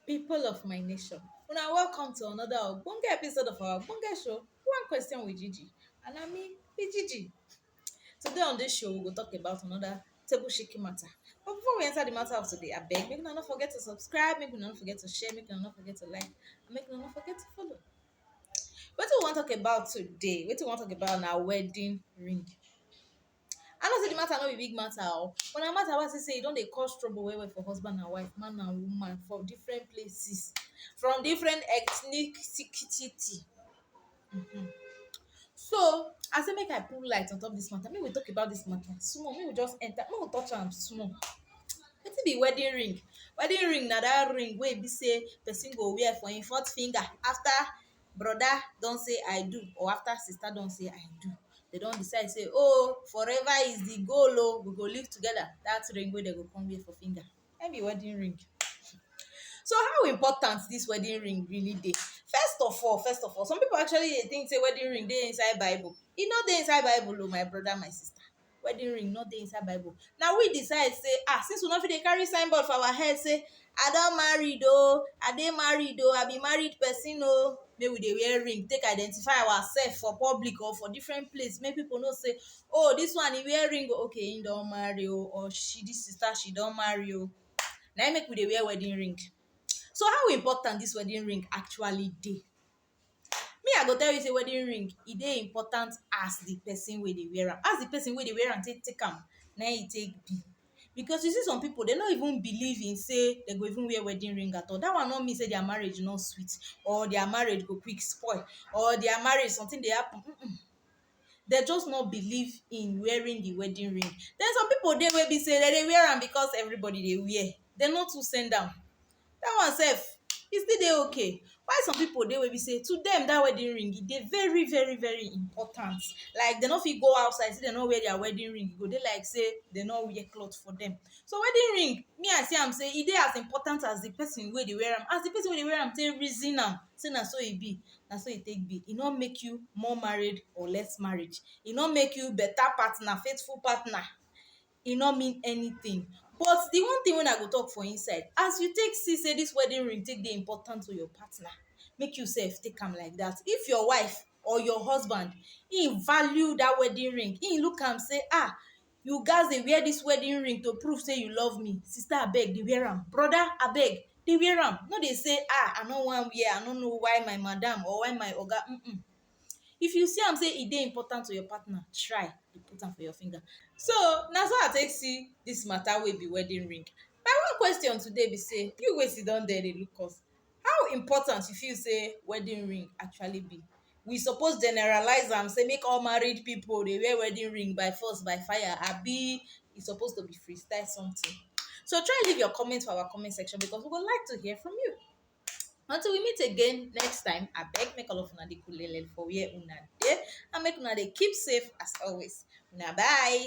People of my nation, una welcome to another ogbonge episode of our ogbonge show, One Question with Gigi and na me be Gigi. Today on dis show, we go talk about another table shaking matter. But before we enter the matter of today, abeg make una no forget to subscribe, make una no forget to share, make una no forget to like, and make una no forget to follow. Wetin we wan talk about today, wetin we wan talk about na wedding ring. I know sey de matter no be big matter oo, but na matter wey I see sey e don dey cause trouble well well for husband and wife, man and woman for different places, from different ethnicity um. So, I say make I put light on top dis matter, make we talk about dis matter small, make we just enter, make we touch am small. Wetin be wedding ring? Wedding ring na dat ring wey e be sey person go wear for im fourth finger after brother don say ‘I do’ or after sister don say ‘I do’. They don decide sey ‘oh, forever is the goal oh’, we go live together’, dat ring wey dem go come wear for finger. na im be wedding ring so how important dis wedding ring really dey first of all first of all some people actually dey think sey wedding ring dey inside bible e no dey inside bible oh my brother my sister wedding ring no dey inside bible na we decide sey ah since we no fit dey carry sign board for our head sey i don married oh i dey married oh i be married person oh make we dey wear ring take identify ourselves for public or for different place make people know sey oh this one e wear ring oh okay him don marry oh or she this sister she don marry oh na him make we dey wear wedding ring so how important this wedding ring actually dey me i go tell you say wedding ring e dey important as the person wey dey wear am as the person wey dey wear am take take am na him e take be because you see some people dem no even believe in say dem go even wear wedding ring at all that one no mean say their marriage no sweet or their marriage go quick spoil or their marriage something dey happen dem just no believe in wearing the wedding ring then some people dey wey be say dem dey wear am because everybody dey wear dem no too send am that one sef e still dey okay why some people dey wey be say to them that wedding ring e dey very very very important like dem no fit go outside say dem no wear their wedding ring e go dey like say dem no wear cloth for them so wedding ring me I see am say e dey as important as the person wey dey wear am as the person wey dey wear am take reason am say na so e be na so e take be, e no make you more married or less married, e no make you beta partner, faithful partner, e no mean anytin. But, di one tin wey I go talk for inside, as you take see sey dis wedding ring take dey important to your partner, make you sef take am like dat. If your wife or your husband, ein value dat wedding ring, ein look am sey ah you gats dey wear dis wedding ring to prove sey you love me, sister abeg dey wear am, brother abeg dey wear am, no dey sey ah I no wan wear, I no know why my madam or why my oga um. If you see am sey e dey important to your partner, try dey put am for your finger. So, na so I take see dis mata wey be wedding ring. My own question today be sey, you wey sit down there dey look us, How important you feel sey wedding ring actually be? We suppose generalize am sey make all married pipu dey wear wedding ring by force by fire abi e suppose to be free style something? So try leave your comment for our comment section because we go like to hear from you. Until we meet again next time, abeg make all of una dey kulele for where una dey and make una dey keep safe as always. Una bye!